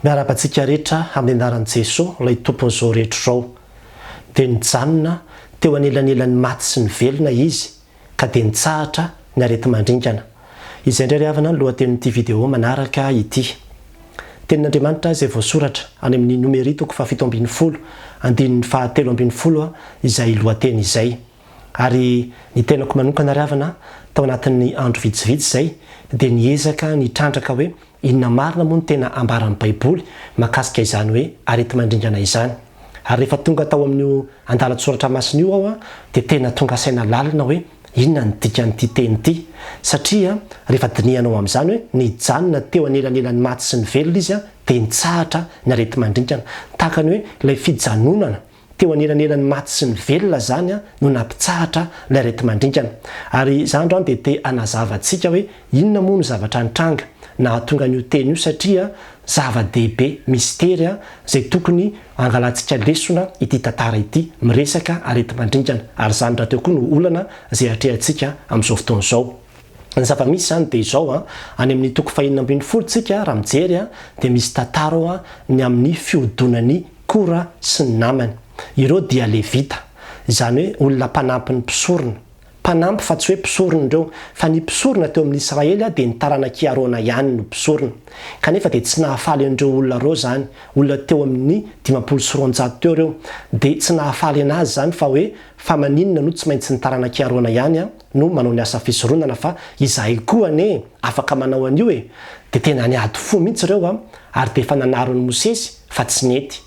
Miarahaba antsika rehetra amin'ny anaran'i Jesoa ilay Tompon'ny zao rehetra izao. Dia nijanona teo anelanelan'ny maty sy ny velona Izy ka dia nitsahatra ny areti-mandringana. Izay indray ry havana ny lohatenin'ity video manaraka ity. Tenin'Andriamanitra izay voasoratra any amin'ny Nomery toko fahafito ambin'ny folo andininy fahatelo ambin'ny folo izay lohateny izay. Ary ny tenako manokana ry havana tao anatin'ny andro vitsivitsy izay dia niezaka nitrandraka hoe Inona marina moa no tena ambaran'ny Baiboly mahakasika izany hoe areti-mandringana izany? Ary rehefa tonga tao amin'io andalan-tsoratra masina io aho dia tena tonga saina lalina hoe inona ny dikan'ity teny ity. Satria rehefa dinihanao amin'izany hoe nijanona teo anelanelan'ny maty sy ny velona izy dia nitsahatra ny areti-mandringana. Tahaka ny hoe ilay fijanonana Teo anelanelan'ny maty sy ny velona izany no nampitsahatra ilay areti-mandringana. Ary izaho androany dia te hanazava antsika hoe inona moa no zavatra nitranga nahatonga an'io teny io satria zava-dehibe, mistery, izay tokony hangalantsika lesona ity tantara ity miresaka areti-mandringana. Ary izany rahateo koa no olana izay atrehantsika amin'izao fotoana izao. Ny zava-misy izany dia izao, any amin'ny toko fahenina ambin'ny folo tsika raha mijery dia misy tantara ao ny amin'ny fihodonan'i Kora sy ny namany. Ireo dia Levita, izany hoe olona mpanampin'ny mpisorona. Mpanampy fa tsy hoe mpisorona ireo, fa ny mpisorona teo amin'ny Israely dia ny taranak'i Arona ihany no mpisorona. Kanefa dia tsy nahafaly an'ireo olona ireo izany, olona teo amin'ny dimampolo sy roanjato teo ireo. Dia tsy nahafaly an'azy izany fa hoe, fa maninona no tsy maintsy ny taranak'i Arona ihany an? no manao ny asa fisoronana fa izahay koa anie afaka manao an'io e! dia tena niady fo mihitsy ireo an! ary dia efa nanaron'i Mosesy fa tsy nety!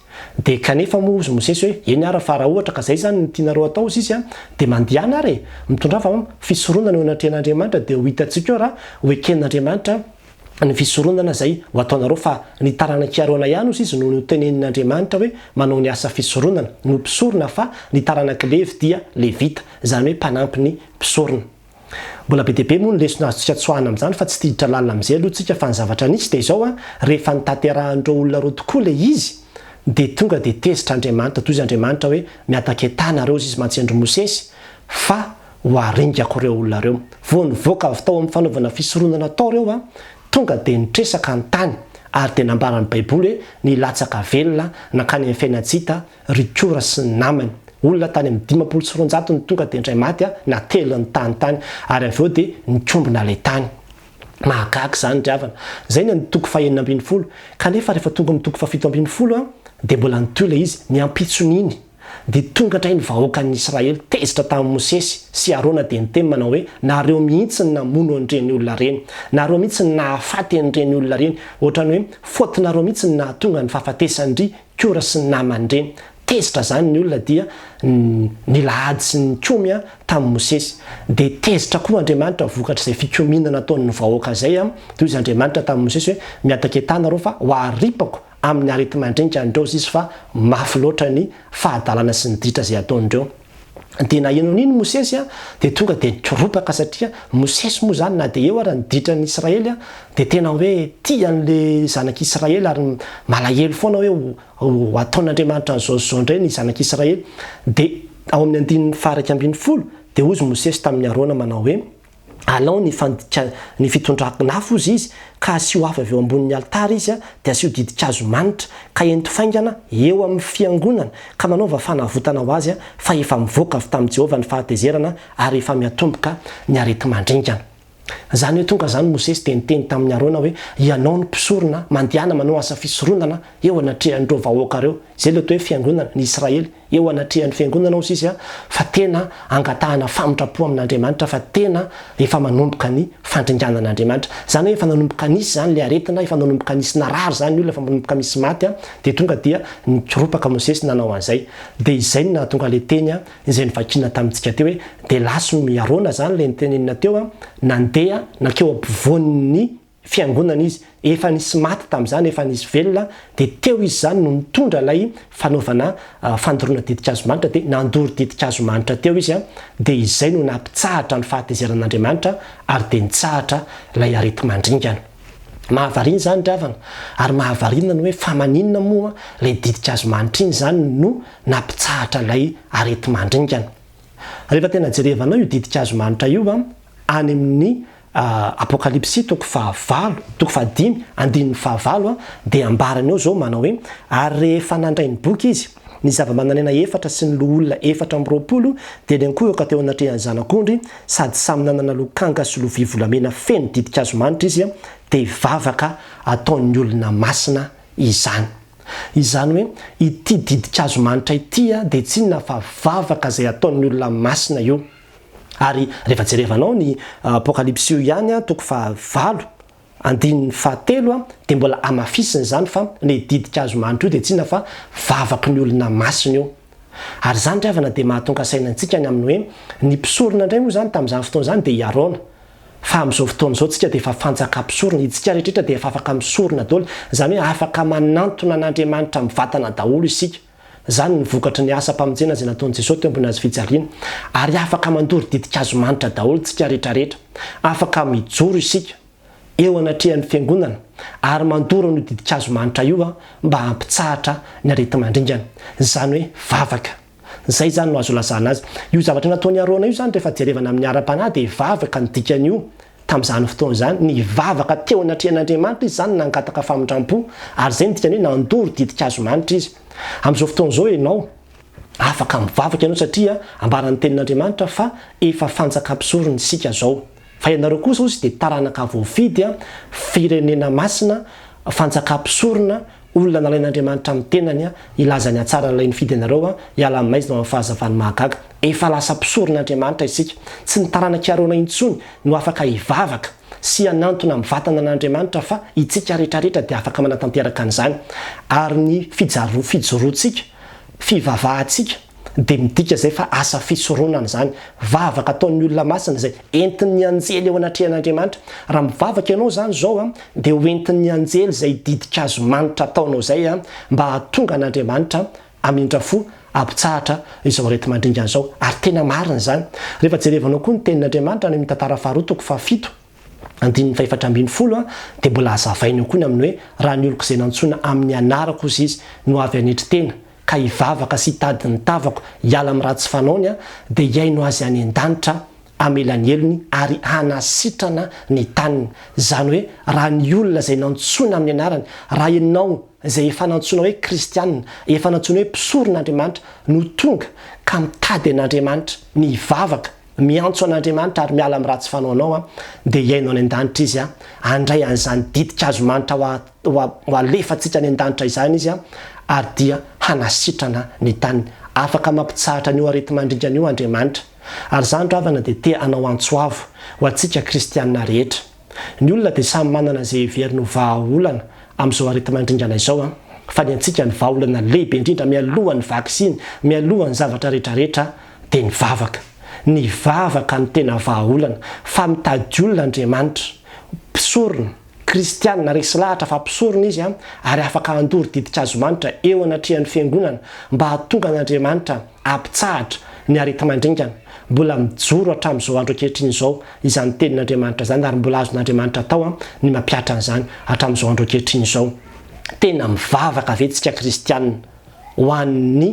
dia kanefa moa hozy Mosesy hoe eny ara fa raha ohatra ka izay izany no tianareo hatao hozy izy an! dia mandehana ary e! mitondrava an! fisoronana eo anatrehan'Andriamanitra dia ho hitantsika eo raha ho eken'Andriamanitra ny fisoronana izay ho ataonareo fa ny taranak'i Arona ihany hozy izy no notenenin'Andriamanitra hoe manao ny asa fisoronana, no mpisorona fa ny taranak'i Levy dia Levita, izany hoe mpanampy ny mpisorona. Mbola be dia be moa ny lesona azontsika tsoahina amin'izany fa tsy tsiditra lalina amin'izay aloha tsika fa ny zavatra nisy dia izao an, rehefa notanterahan'ireo olona ireo tokoa ilay izy dia tonga dia tezitra Andriamanitra, tohiza Andriamanitra hoe miataka etaha nareo hozy izy mantsy andry Mosesy fa ho aringako ireo olona ireo. Vao nivoaka avy tao amin'ny fanaovana fisoronana tao ireo, tonga dia nitresaka ny tany, ary dia nambaran'ny Baiboly hoe nilatsaka velona nankany amin'ny fiainan-tsy-hita ry Kora sy ny namany. Olona tany amin'ny dimampolo sy roanjato no tonga dia indray maty natelina ny tany tany, ary avy eo dia nikombona ilay tany. Mahagaga izany ry havana! Izay ny an'ny toko fahenina ambin'ny folo. Kanefa rehefa tonga amin'ny toko fahafito ambin'ny folo, dia mbola nitohy ilay izy, ny ampitson'iny. Dia tonga indray ny vahoakan'ny Israely tezitra tamin'i Mosesy sy Arona dia niteny manao hoe, Nareo mihitsy no namono an'ireny olona ireny. Nareo mihitsy no nahafaty an'ireny olona ireny. Ohatran'ny hoe faute-nareo mihitsy no nahatonga ny fahafatesan-dry Kora sy ny namany ireny. Tezitra izany ny olona dia nila ady sy nikomy tamin'i Mosesy. Dia tezitra koa Andriamanitra vokatr'izay fikomiana nataon'ny vahoaka izay. Dia hoy izy Andriamanitra tamin'i Mosesy hoe, Miataka etaha nareo fa ho aripako amin'ny areti-mandringa an'ireo izy fa mafy loatra ny fahadalana sy ny ditra izay ataon'ireo. Dia na inona na inona Mosesy dia tonga dia nikoropaka satria Mosesy moa izany na dia eo ary ny ditra ny Israely dia tena hoe tia an'ilay zanak'i Israely ary malahelo foana hoe ho ataon'Andriamanitra an'izao sy izao indray ny zanak'i Israely. Dia ao amin'ny andininy faha iraika ambin'ny folo dia hozy Mosesy tamin'i Arona manao hoe. Alao ny fandikan ny fitondran-afo ozy izy, ka asio afo avy eo ambonin' ny alitara izy, a dia asio didin-kazo manitra, ka ento faingana eo amin' ny fiangonana, ka manaova fanavotana ho azy, fa efa mivoaka avy tamin'i Jehovah ny fahatezerana, ary efa miatomboka ny areti-mandringana. Izany hoe tonga izany Mosesy dia niteny tamin'i Arona hoe, Ianao no mpisorona, mandehana manao asa fisoronana eo anatrehan'ireo vahoaka ireo. Izay ilay atao hoe fiangonana, ny Israely. eo anatrehan'ny Fiangonana hozy izy fa tena angatahana famintra-po amin'Andriamanitra fa tena efa manomboka ny fandringanana Andriamanitra. Izany hoe efa nanomboka nisy izany ilay aretina, efa nanomboka nisy narary izany olona, efa manomboka misy maty dia tonga dia nikoropaka Mosesy nanao an'izay. Dia izay no nahatonga ilay teny izay novakiana tamintsika teo hoe dia lason'i Arona izany ilay notenenina teo, nandeha nankeo ampovoan'ny. Fiangonana izy, efa nisy maty tamin'izany, efa nisy velona, dia teo izy izany no nitondra ilay fanaovana fandoroana ditin-kazo manitra, dia nandoro ditin-kazo manitra teo izy, dia izay no nampitsahatra ny fahatezeran'Andriamanitra ary dia nitsahatra ilay areti-mandringana. Mahavariana izany ry havana, ary mahavariana ny hoe fa maninona moa ilay ditin-kazo manitra iny izany no nampitsahatra ilay areti-mandringana. Rehefa tena jerevanao io ditin-kazo manitra io any amin'ny Apokalypsy toko fahavalo, toko fahadimy, andininy fahavalo, dia ambarany eo izao manao hoe, Ary rehefa nandray ny boky izy, ny zava-manan'aina efatra sy ny loholona efatra amby roapolo dia niankohoka teo anatrehan'ny Zanak'ondry, sady samy nanana lokanga sy lovia volamena feno ditin-kazo manitra izy, dia vavaka ataon'ny olona masina izany. Izany hoe, ity ditin-kazo manitra ity dia tsy inona fa vavaka izay ataon'ny olona masina io. Ary rehefa jerevanao ny apokalypsy io ihany toko faha valo andininy faha telo dia mbola hamafisiny izany fa ilay didink'hazo manitra io dia tsy inona fa vavaky ny olona masina io. Ary izany ry havana dia mahatonga saina antsika ny amin'ny hoe ny mpisorona indray moa izany tamin'izany fotoana izany dia i Arona. Fa amin'izao fotoana izao tsika dia efa fanjaka mpisorona, itsika rehetra rehetra dia efa afaka misorona daholo, izany hoe afaka manantona an'Andriamanitra mivatana daholo isika. Izany ny vokatry ny asam-pamonjena izay nataon'i Jesoa teo ambony hazo fijaliana. Ary afaka mandoro ditin-kazo manitra daholo isika rehetrarehetra. Afaka mijoro isika eo anatrehan'ny Fiangonana ary mandoro an'io ditin-kazo manitra io mba hampitsahatra ny areti-mandringana. Izany hoe vavaka. Izay izany no azo ilazana azy. Io zavatra nataon'i Arona io izany rehefa jerevana amin'ny ara-panahy dia vavaka ny dikan'io Tamin'izany fotoana izany, nivavaka teo anatrehan'Andriamanitra izy izany, nangataka famindram-po, ary izay no dikany hoe nandoro ditin-kazo manitra izy. Amin'izao fotoana izao ianao afaka mivavaka ianao satria ambaran'ny Tenin'Andriamanitra fa efa fanjaka mpisorona isika izao. Fa ianareo kosa hozy dia taranaka voafidy, firenena masina, fanjaka mpisorona, Olona nalain'Andriamanitra amin'ny tenany hilaza ny hatsaran'ilay nifidy anareo hiala aminay izy no amin'ny fahazavany mahagaga. Efa lasa mpisoron'Andriamanitra isika. Tsy ny taranak'i Arona intsony no afaka hivavaka sy hanantona amin'ny vatana an'Andriamanitra fa itsika retraretra dia afaka manatanteraka an'izany. Ary ny fijoroantsika, fivavahantsika, dia midika izay fa asa fisoronana izany. Vavaka ataon'ny olona masina izay entin'ny anjely eo anatrehan'Andriamanitra. Raha mivavaka ianao izany izao dia ho entin'ny anjely izay didin-kazo manitra ataonao izay mba hahatonga an'Andriamanitra hamindra fo, hampitsahatra izao areti-mandringana izao. Ary tena marina izany. Rehefa jerevanao koa ny tenin'Andriamanitra any amin'ny Tantara Faharoa toko fahafito, andininy fahefatra ambin'ny folo dia mbola hazavaina eo koa ny amin'ny hoe raha ny oloko izay nantsoina amin'ny anarako hozy izy no avy hanetry tena ka hivavaka sy hitady ny tavako hiala amin'ny ratsy fanaony dia hihaino azy any an-danitra hamela ny helony ary hanasitrana ny taniny izany hoe raha ny olona izay nantsoina amin'ny anarany raha ianao izay efa nantsoina hoe kristianina efa nantsoina hoe mpisoron'Andriamanitra no tonga ka mitady an'Andriamanitra ny hivavaka Miantso an'Andriamanitra ary miala amin'ny ratsy fanaonao aho, dia hihaino any an-danitra Izy aho. Handray an'izany ditin-kazomanitra ho alefantsika any an-danitra izany Izy ary dia hanasitrana ny tany. Afaka mampitsahatra an'io areti-mandringana io Andriamanitra. Ary izany ravana dia te hanao antso avo ho antsika kristiana rehetra. Ny olona dia samy manana izay heveriny ho vahaolana amin'izao areti-mandringana izao fa ny antsika ny vahaolana lehibe indrindra mialohan'ny vaksiny, mialohan'ny zavatra retraretra dia ny vavaka. Ny vavaka no tena vahaolana fa mitady olona Andriamanitra, mpisorona, kristianina resy lahatra fa mpisorona izy ary afaka handoro didink'azomanitra eo anatrehan'ny fiangonana mba hahatonga an'Andriamanitra Ampitsahatra ny areti-mandringana mbola mijoro hatramin'izao andro ankehitriny izao izany tenin'Andriamanitra izany ary mbola azon'Andriamanitra atao ny mampihatra an'izany hatramin'izao andro ankehitriny izao. Tena mivavaka ve isika kristiana ho an'ny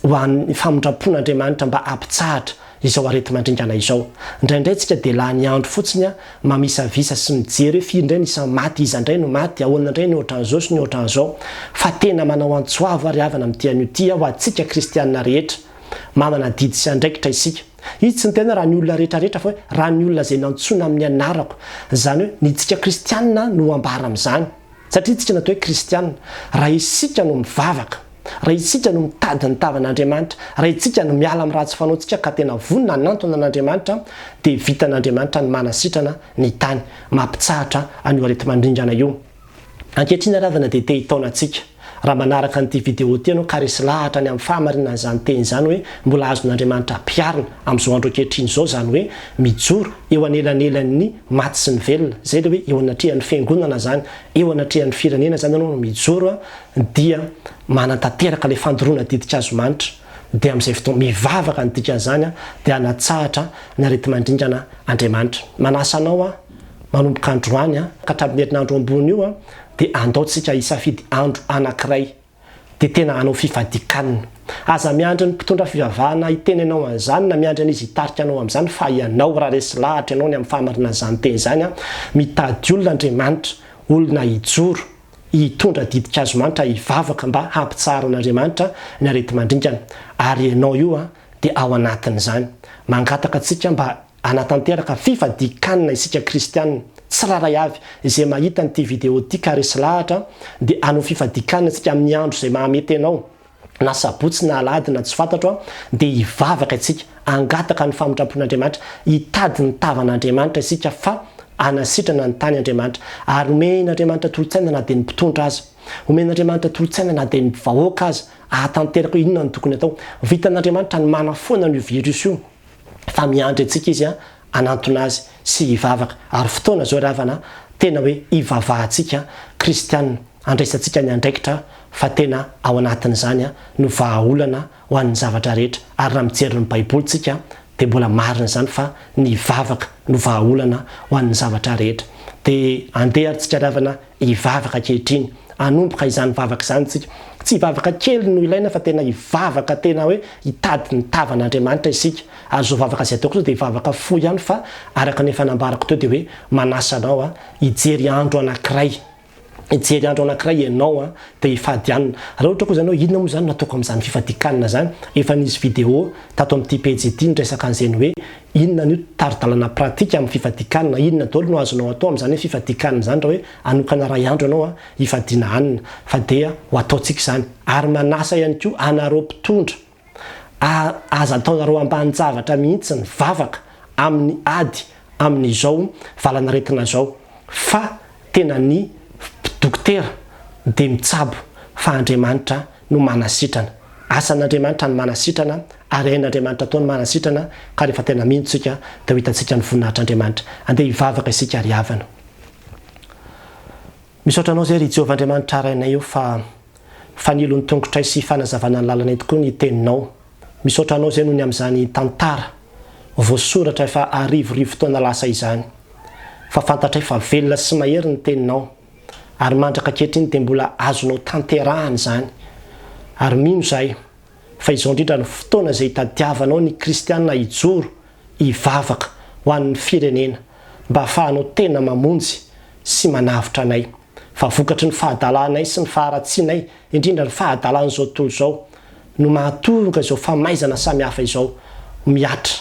ho an'ny famindram-pon'Andriamanitra mba hampitsahatra izao areti-mandringana izao. Ndraindray tsika dia lany andro fotsiny mamisavisa sy mijery hoe firy indray ny isan'ny maty, iza indray no maty, ahoana indray ny ohatran'izao sy ny ohatran'izao. Fa tena manao antso avo ary havana amin'ity anio ity aho ho antsika kristianina rehetra. Manana adidy sy andraikitra isika. Izy tsy niteny hoe raha ny olona rehetra rehetra fa hoe raha ny olona izay nantsoina amin'ny anarako. Izany hoe ny tsika kristianina no ambara amin'izany. Satria isika natao hoe kristiana raha isika no mivavaka, raha isika no mitady ny tavan'Andriamanitra, raha isika no miala amin'ny ratsy fanaontsika ka tena vonona hanantona an'Andriamanitra dia vitan'Andriamanitra ny manasitrana ny tany mampitsahatra an'io areti-mandringana io. Ankehitriny ary havana dia te hitaona antsika. Raha manaraka an'ity video ity ianao ka resy lahatra ny amin'ny fahamarinan'izany teny izany hoe mbola azon'Andriamanitra ampiharina amin'izao andro ankehitriny izao izany hoe mijoro eo anelanelan'ny maty sy ny velona, zay le hoe eo anatrehan'ny fiangonana zany, eo anatrehan'ny firenena zany anao no mijoro a, dia manatanteraka le fandoroana didik'hazomanitra, dia am'zay fotoana, mivavaka ny dikan'zany a, dia hanatsahatra ny areti-mandringana Andriamanitra. Manasa anao aho, manomboka androany a, ka hatramin'ny herinandro ambony io a, dia andao tsika hisafidy andro anankiray, dia tena hanao fifadikanina. Aza miandry ny mpitondra fivavahana hiteny anao an'izany na miandry an'izy hitarika anao amin'izany fa ianao raha resy lahatra ianao ny amin'ny fahamarinana izany teny izany a! Mitady olona Andriamanitra, olona hijoro, hitondra didikazo manitra hivavaka mba hampitsahara an'Andriamanitra ny areti-mandringana. Ary ianao io dia ao anatin'izany. Mangataka antsika mba Hanatanteraka fifadian-kanina isika kristiana tsirairay avy izay mahita an'ity video ity ka resy lahatra dia hanao fifadian-kanina isika amin'ny andro izay mahamety anao na sabotsy na alahady na tsy fantatro an dia hivavaka isika hangataka ny famindrampon'Andriamanitra hitady ny tavan'Andriamanitra isika fa hanasitrana ny tany Andriamanitra ary homen'Andriamanitra tolotsaina na dia ny mpitondra aza homen'Andriamanitra tolotsaina na dia ny vahoaka aza hahatanteraka inona no tokony atao vitan'Andriamanitra ny manafoana an'io virus io fa miandry antsika izy hanantona azy sy hivavaka. Ary fotoana izao ry havana tena hoe hivavahantsika kristiana, handraisantsika ny andraikitra fa tena ao anatin'izany no vahaolana ho an'ny zavatra rehetra. Ary raha mijery ny baiboly tsika dia mbola marina izany fa ny vavaka no vahaolana ho an'ny zavatra rehetra. Dia andeha ary tsika ry havana Hivavaka ankehitriny, hanomboka izany vavaka izany isika. Tsy hivavaka kely no ilaina fa tena hivavaka tena hoe hitady ny tavan'Andriamanitra isika. Ary izao vavaka izay ataoko izao dia vavaka fohy ihany fa araka ny efa nambarako teo dia hoe manasa anao hijery andro anankiray, hijery andro anankiray ianao dia hifadianina. Raha ohatra koa izany hoe inona moa izany no ataoko amin'izany fifadikanana izany, efa nisy vidéo tato amin'ity pejy ity niresaka an'izay ny hoe Inona anio tari-dalana pratique amin'ny fifadikanina? Inona daholo no azonao atao amin'izany hoe fifadikanina izany raha hoe hanokana iray andro ianao hifadiana hanina? Fa dia ho ataontsika izany. Ary manasa ihany koa anareo mpitondra, aza ataonareo ambanin-javatra mihitsy ny vavaka amin'ny ady amin'izao valan'aretina izao. Fa tena ny dokotera dia mitsabo fa Andriamanitra no manasitrana. Asan'Andriamanitra ny manasitrana. Ary hain'Andriamanitra tokoa ny marina sy sitrana, ka rehefa tena mino isika, dia ho hitantsika ny voninahitr'Andriamanitra. Andeha hivavaka isika ry havana. Misaotra Anao izay ry Jehovah Andriamanitra harainay eo fa fanilo ny tongotray sy fanazavana ny lalanay tokoa ny Teninao. Misaotra Anao izay noho ny amin'izany tantara voasoratra efa arivorivo taona lasa izany, fa fantatray fa velona sy mahery ny Teninao, ary mandraka ankehitriny dia mbola azonao tanterahana izany. Ary mino izahay fa izao indrindra no fotoana izay itadiavanao ny kristiana hijoro hivavaka ho an'ny firenena mba hafahanao tena mamonjy sy manavotra anay fa vokatry ny fahadalanay sy ny faharatsianay indrindra ny fahadalan'izao tontolo izao no mahatoroka izao famaizana samihafa izao mihatra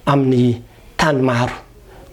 amin'ny tany maro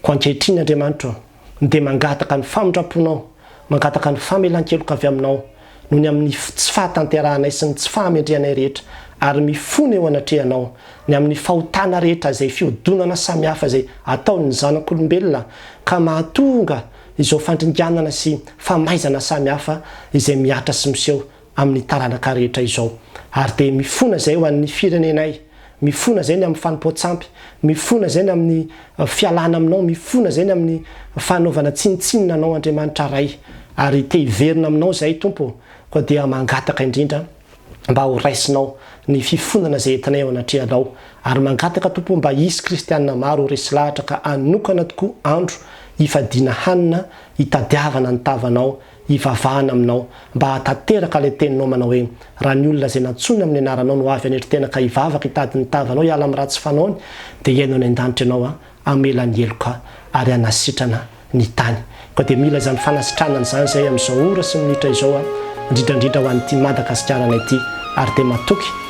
ko ankehitriny Andriamanitro dia mangataka ny famindram-ponao, mangataka ny famelan-keloka avy aminao noho ny amin'ny tsy fahatanterahanay sy ny tsy fahamendrehanay rehetra, ary mifona eo anatrehanao ny amin'ny fahotana rehetra izay fihodonana samihafa izay ataon'ny zanak'olombelona ka mahatonga izao fandringanana sy famaizana samihafa izay mihatra sy miseho amin'ny taranaka rehetra izao. Ary dia mifona izay ho an'ny firenenay, mifona izay ny amin'ny fanompoan-tsampy, mifona izay ny amin'ny fialana aminao, mifona izay ny amin'ny fanaovana tsinontsinona anao Andriamanitra Ray, ary te hiverina aminao izahay Tompo ô, koa dia mangataka indrindra mba ho raisinao ny fifonana izay entinay eo anatrehanao, ary mangataka Tompo mba hisy kristianina maro ho resy lahatra ka hanokana tokoa andro hifadiana hanina hitadiavana ny tavanao Hivavahana aminao mba hahatanteraka ilay teninao manao hoe, Raha ny olona izay nantsoina amin'ny anaranao no avy haneritena ka hivavaka hitady ny tavanao hiala amin'ny ratsy fanaony, dia hihaino any an-danitra ianao an, hamela ny heloka ary hanasitrana ny tany. Koa dia mila izany fanasitranana izany izahay amin'izao ora sy minitra izao an, indrindra indrindra ho an'ity Madagasikarana ity ary dia matoky.